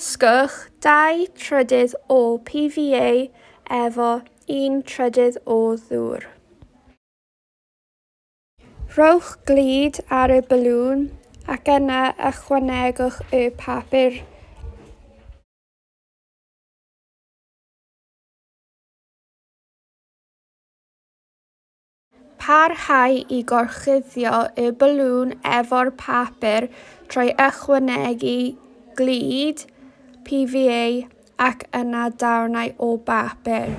Dysgwch dau trydydd o PVA efo un trydydd o ddŵr. Rhowch glud ar y balŵn ac yna ychwanegwch y papur. Parhau i gorchuddio y balŵn efo'r papur trwy ychwanegu glud, PVA ac yna darnau o bapur.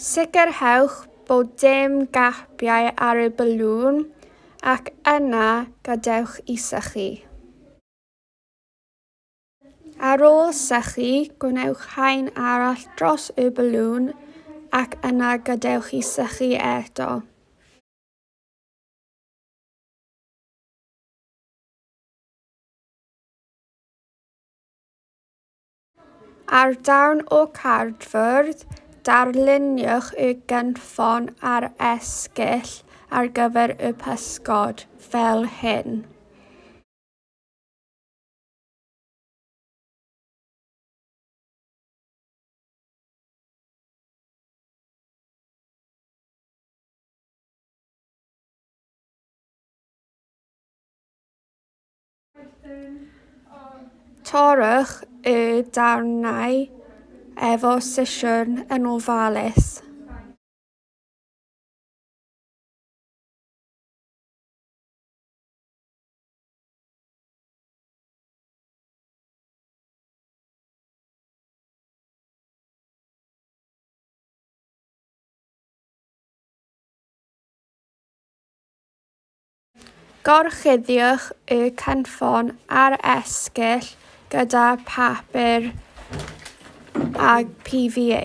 Sicrhewch bod dim gapiau ar y balŵn ac yna gadewch i sychu. Ar ôl sychu, gwnewch haen arall dros y balŵn ac yna gadewch i sychu eto. Ar darn o gardfwrdd, darluniwch y gynffon a'r esgyll ar gyfer y pysgod, fel hyn. Torrwch y darnau efo sesiwn yn ofalus. Gorchuddiwch y cynffon a'r esgyll gyda phapur a PVA.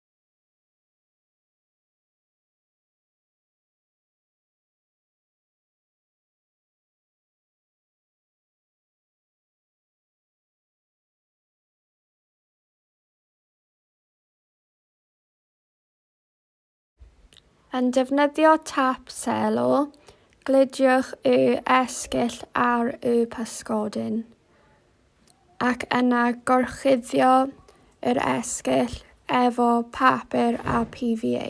Yn defnyddio tap selo, gludiwch y esgyll ar y pysgodyn. ac yna gorchuddio yr esgyll efo papur a PVA.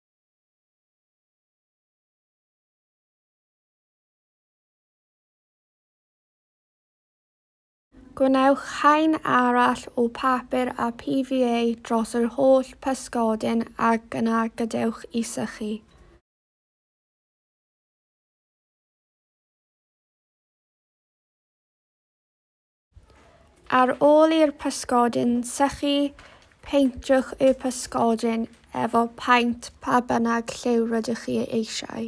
Gwnewch haen arall o papur a PVA dros yr holl pysgodyn ac yna gadewch i sychu. Ar ôl i'r pysgodyn sychu, peintwch y pysgodyn efo paent pa bynnag lliw rydych chi eisiau.